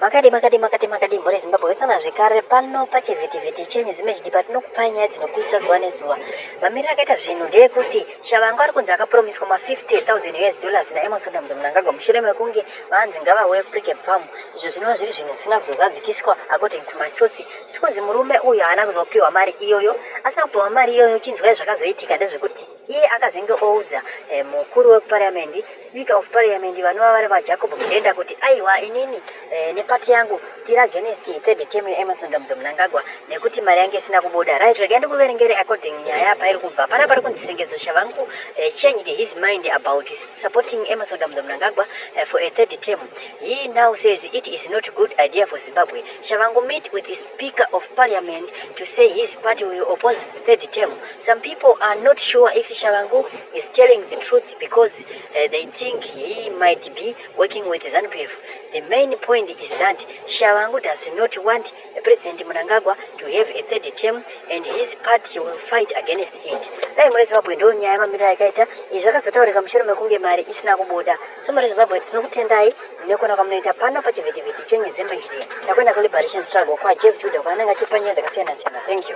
Makadii makadii makadii makadii mhuri Zimbabwe wesana zvekare pano pachivhitivhiti chenyu zimejidi patinokupai nyaya dzinopisa zuva nezuva. Mamiriro akaita zvinhu ndeyekuti Shavangu ari kunzi akapromiswa ma 50000 US dollars naEmerson Damzo Mnangagwa mushure mekunge vanzi ngavauye kuPrecap Farm izvo zvinova zviri zvinhu zvisina kuzozadzikiswa according to my source. Zvikunzi murume uyu haana kuzopiwa mari iyoyo, asina kupiwa mari iyoyo chinzwai zvakazoitika ndezvekuti Iye akazenge oudza eh, mukuru wekupariyamendi speaker of pariyamendi vanova vari vajacob mudenda kuti aiwa inini eh, nepati yangu tiri against third term yeemerson dambudzo munangagwa nekuti mari yange isina kubuda right regai ndikuverengere according nyaya pairi kubva pana pari kunzi sengezo shavangu eh, changed his mind about supporting emerson dambudzo munangagwa eh, for a third term he now says it is not good idea for zimbabwe shavangu meet with the speaker of parliament to say his party will oppose the third term Some people are not sure if Shavangu is telling the truth because uh, they think he might be working with ZANPF. The main point is that Shavangu does not want President Munangagwa to have a third term and his party will fight against it. Dai muri Zimbabwe ndo nyaya mamiriro yakaita izvi zvakazotaurika mushure mekunge mari isina kubuda. So muri Zimbabwe tinokutendai nekuona kwamunoita pano pachivhitivhiti chenyu Zimba HD. Takuenda kuliberation struggle kwaJeff Judah kwaanenge achipanyaya dzakasiyana siyana. Thank you.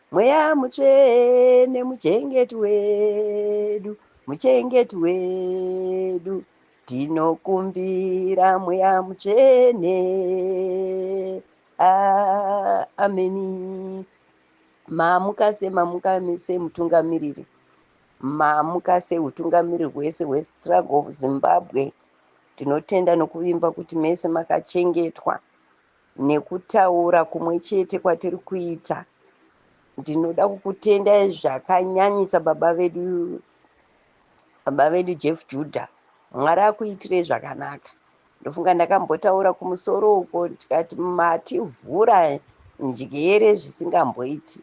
Mweya mutsvene muchengeti wedu, muchengeti wedu, tinokumbira mweya mutsvene. Ah, ameni. Mamuka se, mamuka se mutungamiriri. Mamuka se utungamiriri hwese hwe struggle of Zimbabwe. Tinotenda nokuvimba kuti mese makachengetwa. nekutaura kumwe chete kwatiri kuita ndinoda kukutendai zvakanyanyisa baba vedu baba vedu jeff juda mwari akuitirei zvakanaka ndofunga ndakambotaura kumusoro uko tikati mativhura njere zvisingamboiti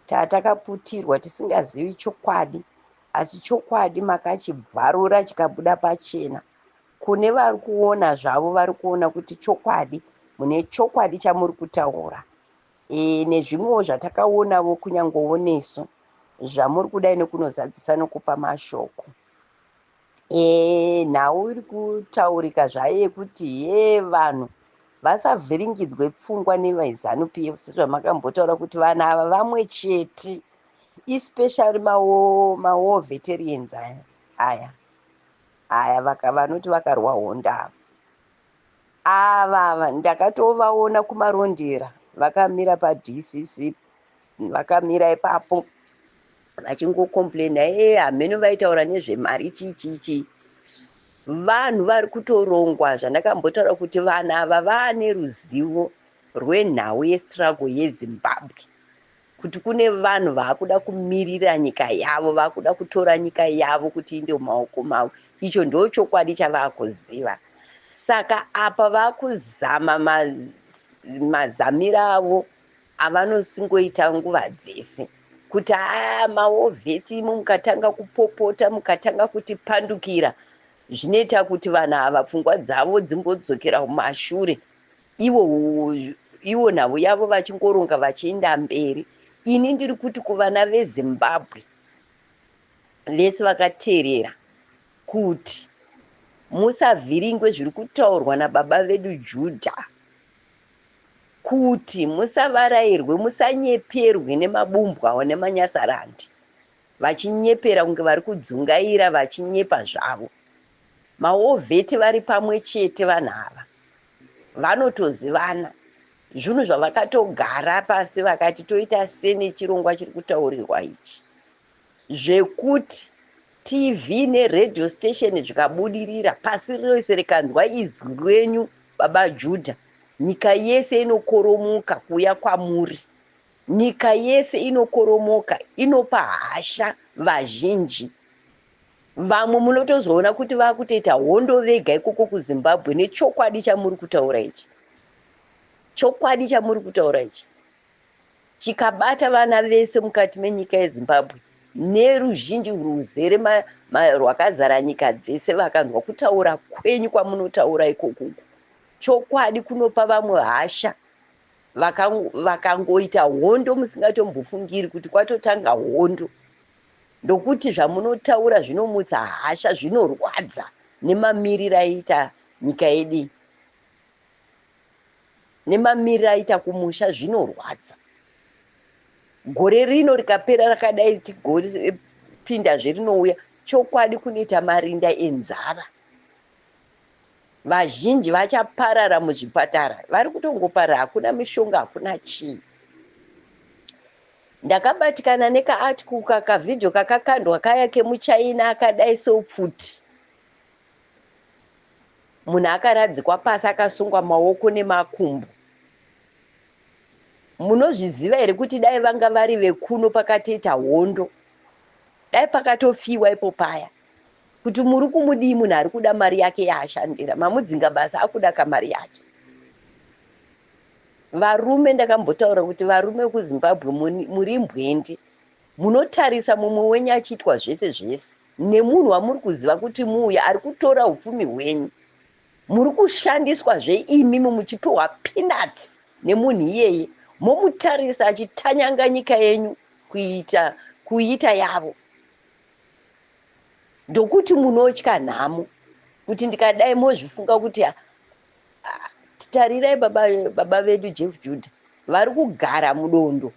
tatakaputirwa tisingazivi chokwadi asi chokwadi makachibvarura chikabuda pachena Kune vari kuona zvavo vari kuona kuti chokwadi mune chokwadi chamuri kutaura e, nezvimwewo zvatakaonavo kunyangowo nesu zvamuri kudai nekunozadzisa nokupa mashoko e, nhau iri kutaurika zvayo yekuti ye vanhu vasavhiringidzwe pfungwa nevaizanu p f sezvamakambotaura kuti vanhu ava vamwe chete especially mawo mawo veterians aya aya aya vaka, vanoti vakarwa honda ava avava ndakatovaona kumarondera vakamira padcc vakamira ipapo vachingocomplaina ee hameno vaitaura nezvemari chichichi vanhu vari kutorongwa zvandakambotaura kuti vana ava vaane ruzivo rwenhau yestruggle yezimbabwe kuti kune vanhu vaakuda kumirira nyika yavo vaakuda kutora nyika yavo kuti inde mumaoko mavo icho ndo chokwadi chavaakuziva saka apa vaakuzama mazamira avo avanosingoita nguva dzese kuti aa maovheti imo mukatanga kupopota mukatanga kutipandukira zvinoita kuti vanhu ava pfungwa dzavo dzimbodzokera kumashure ivo ivo nhau yavo vachingoronga vachienda mberi ini ndiri kuti kuvana vezimbabwe vese vakateerera kuti musavhiringwe zviri kutaurwa nababa vedu judha kuti musavarairwe musanyeperwe nemabumbwawo nemanyasarandi vachinyepera kunge vari kudzungaira vachinyepa zvavo maovheti vari pamwe chete vanhu ava vanotozivana zvinhu zvavakatogara pasi vakati toita sene chirongwa chiri kutaurirwa ichi zvekuti tv neradio station zvikabudirira pasi rese rikanzwa izwi rwenyu baba judha nyika yese inokoromoka kuuya kwamuri nyika yese inokoromoka inopa hasha vazhinji Vamwe munotozoona kuti vakutoita hondo vega ikoko kuZimbabwe nechokwadi chamuri kutaura ichi. Chokwadi chamuri kutaura ichi chikabata vana vese mukati menyika yeZimbabwe neruzhinji rwuzere ma, ma, rwakazara nyika dzese vakanzwa kutaura kwenyu kwamunotaura ikoko chokwadi kunopa vamwe hasha vakangoita hondo musingatombofungiri kuti kwatotanga hondo ndokuti zvamunotaura zvinomutsa hasha zvinorwadza nemamiriro aita nyika yedu iyi nemamiriro aita kumusha zvinorwadza gore rino rikapera rakadai tigopinda zve rinouya chokwadi kunoita marinda enzara vazhinji vachaparara muzvipatara vari kutongoparara hakuna mishonga hakuna chii ndakabatikana nekaarticle kakavhidhio kakakandwa kaya kemuchaina akadai seupfuti munhu akaradzikwa pasi akasungwa maoko nemakumbo munozviziva here kuti dai vanga vari vekuno pakatoita hondo dai pakatofiwa ipo paya Kuti muri kumudii munhu ari kuda mari yake yaashandira. Mamudzinga basa akuda kamari yake. Varume ndakambotaura kuti varume vekuZimbabwe muri mbwendi. Munotarisa mumwe wenyu achiitwa zvese zvese nemunhu wamuri kuziva kuti muuya ari kutora upfumi hwenyu. Muri kushandiswa zveimi muchipiwa peanuts nemunhu iyeye momutarisa achitanyanga nyika yenyu kuita kuita yavo. ndokuti munotya nhamo kuti ndikadai mozvifunga kuti ah, ah, tarirai baba, baba vedu jeff juda vari kugara mudondo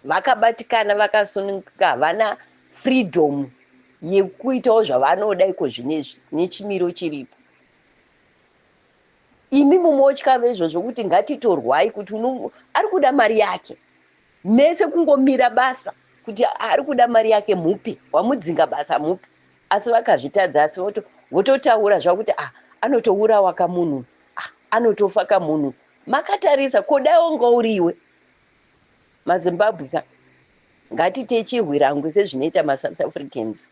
vakabatikana vakasunungika havana freedom yekuitawo zvavanoda iko zvinezvi nechimiro chiripo imi mumotya vezvo zvokuti ngatitorwai kuti ari kuda mari yake mese kungomira basa kuti ari kuda mari yake mupi wamudzinga basa mupi asi vakazvitadza asi voto vototaura zvavo kuti ah anotourawa kamunhu ah anotofa kamunhu makatarisa kodai wanga uri iwe mazimbabwe ka ngatiite chihwirangwi sezvinoita masouth africans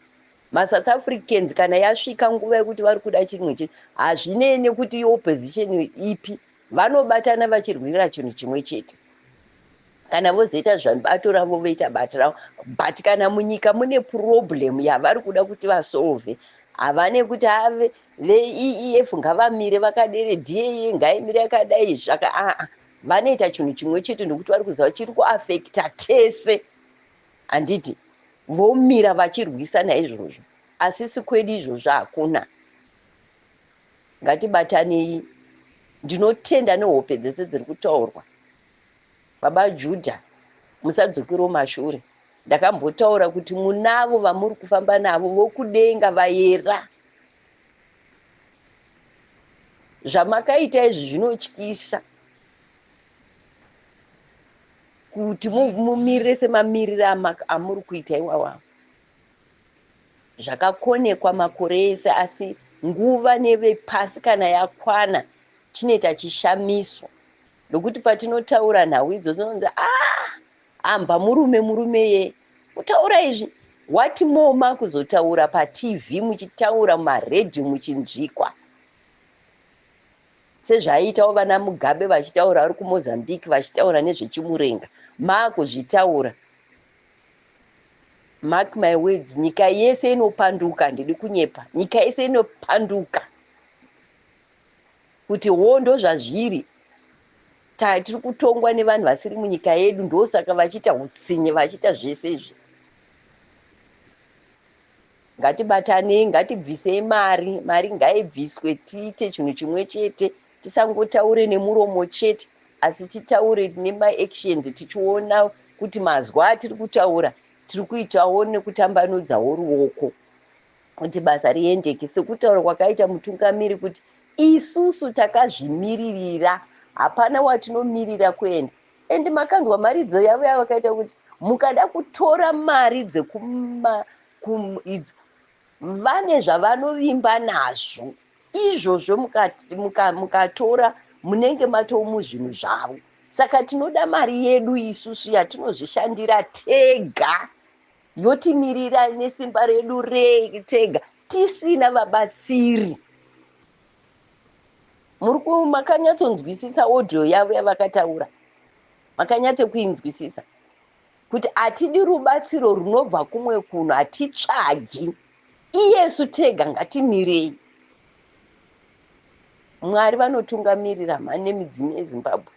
masouth africans kana yasvika nguva yekuti vari kuda chimwe chinhu hazvinei nekuti iopposition ipi Vanobatana vachirwira chinhu chimwe chete kana vozoita zvabato ravo voita bato ravo but kana munyika mune problem yavari kuda kuti vasolve havane kuti ave veef ngavamire vakadere daa ngaimire yakadai zvaka aa vanoita chinhu chimwe chete nokuti vari kuziva chiri kuafekta tese handiti vomira vachirwisana izvozvo asisi kwedu izvozvo hakuna Ngatibatanei. Ndinotenda nehope dzese dziri kutaurwa. Baba Judah, musadzokere kumashure. Ndakambotaura kuti munavo vamuri kufamba navo vokudenga vayera. Zvamakaita izvi zvinotyisa kuti mumirire semamirire amuri kuita iwawa. zvakakonekwa makore ese asi nguva nevepasi kana yakwana chinoita chishamiso nokuti patinotaura nhau idzo tinonzi a ah, amba murume murume ye kutaura izvi what more makuzotaura patv muchitaura mumaredhiyo muchinzvikwa sezvaiitawo vana mugabe vachitaura vari kumozambique vachitaura nezvechimurenga maakuzvitaura Mark my words nyika yese inopanduka handidi kunyepa nyika yese inopanduka kuti hoo ndozvazviri tiri kutongwa nevanhu vasiri munyika yedu ndosaka vachiita utsinye vachiita zvese izvi Ngatibatanei ngatibvisei mari mari ngaibviswe tiite chinhu chimwe chete tisangotaure nemuromo chete asi titaure nemaactions tichiona kuti mazwi atiri kutaura tiri kuitawo nekutambanudzawo ruoko kuti basa riendeke sekutaura kwakaita mutungamiri kuti isusu takazvimiririra hapana watinomirira kuenda and makanzwa mharidzo yavo yavakaita kuti mukada kutora mari dzekuma idzo vane zvavanovimba nazvo izvozvo mukatora muka, muka munenge matomu zvinhu zvavo saka tinoda mari yedu isusu yatinozvishandira tega yotimirira nesimba redu retega tisina vabatsiri muri ku makanyatsonzwisisa audio yavo yavakataura makanyatse kuinzwisisa kuti hatidi rubatsiro runobva kumwe kuno hatitsvagi iyesu tega ngatimirei mwari vanotungamirira mhani nemidzimu yezimbabwe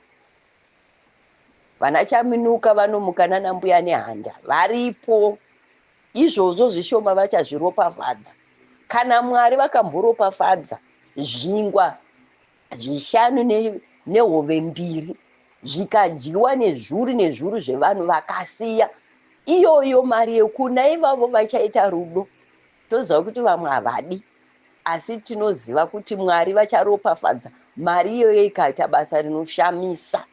Vana Chaminuka vanomuka nana mbuya nehanda varipo. Izvozvo zvishoma vachazviropafadza. Kana Mwari vakamboropafadza zvingwa zvishanu ne, nehove mbiri zvikadyiwa nezvuru nezvuru zvevanhu vakasiya iyoyo mari yekuna ivavo vachaita rudo toziva kuti vamwe havadi. Asi tinoziva kuti Mwari vacharopafadza mari iyoyo ikaita basa rinoshamisa.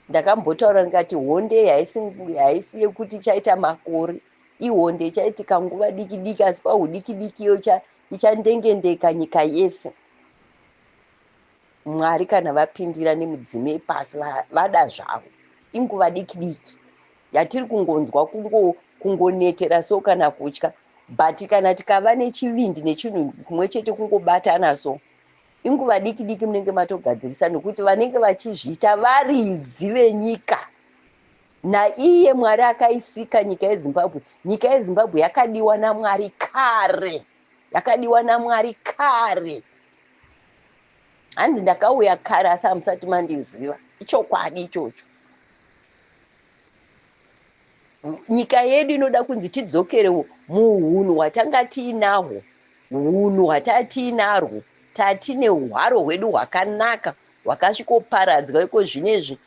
Ndakambotaura ndikati honde iyi haisi ngu- haisi yekuti ichaita makore. Ihonde ichaitika nguva diki diki asi pahudiki diki iyo icha- ichandengendeka nyika yese. Mwari kana vapindira nemudzimu yepasi va- vada zvavo. Inguva diki diki yatiri kungonzwa kungo kungonetera so kana kutya But kana tikava nechivindi nechinhu kumwe chete kungobatana so inguva diki diki munenge matogadzirisa nokuti vanenge vachizviita varidzi venyika naiye mwari akaisika nyika yezimbabwe nyika yezimbabwe yakadiwa namwari kare yakadiwa namwari kare hanzi ndakauya kare asi hamusati mandiziva ichokwadi ichocho nyika yedu inoda kunzi tidzokerewo muhunhu hwatanga tiinahwo hunhu hwataa tiinarwo tatine hwaro hwedu hwakanaka hwakasvikoparadzwa iko zvino izvi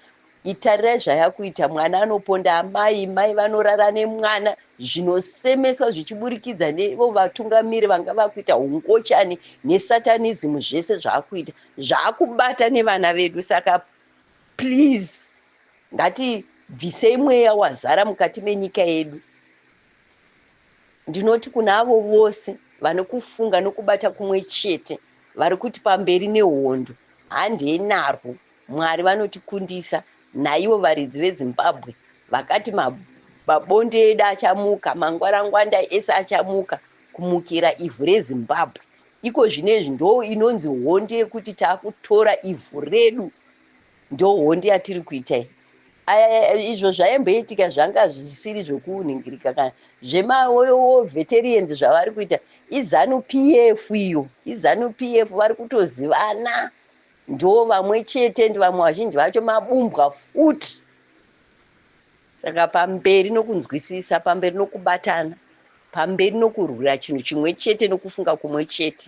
itarirai zvayakuita mwana anoponda amai mai vanorara nemwana zvinosemeswa zvichiburikidza nevo vatungamiri vanga vakuita ungochani nesatanism zvese zvaakuita zvaakubata nevana vedu saka please Ngatibvisei mweya wazara mukati menyika yedu. Ndinoti kuna avo vose vane kufunga nokubata kumwe chete vari kuti pamberi nehondo, handei narwo, Mwari vanotikundisa, naivo varidzi veZimbabwe vakati mabonde edu achamuka, mangwarangwanda ese achamuka kumukira ivhu reZimbabwe. Iko zvinezvi ndoo inonzi hondo yekuti takutora ivhu redu. ndohondi yatiri kuita iyi izvo zvaimboitika zvanga zvisiri zvokunhingirika kana zvemaveterians zvavari kuita izanu pf iyo izanu pf vari kutozivana ndo vamwe chete ndi vamwe vazhinji vacho mabumbwa futi saka pamberi nokunzwisisa pamberi nokubatana pamberi nokurwira chinhu chimwe chete nokufunga kumwe chete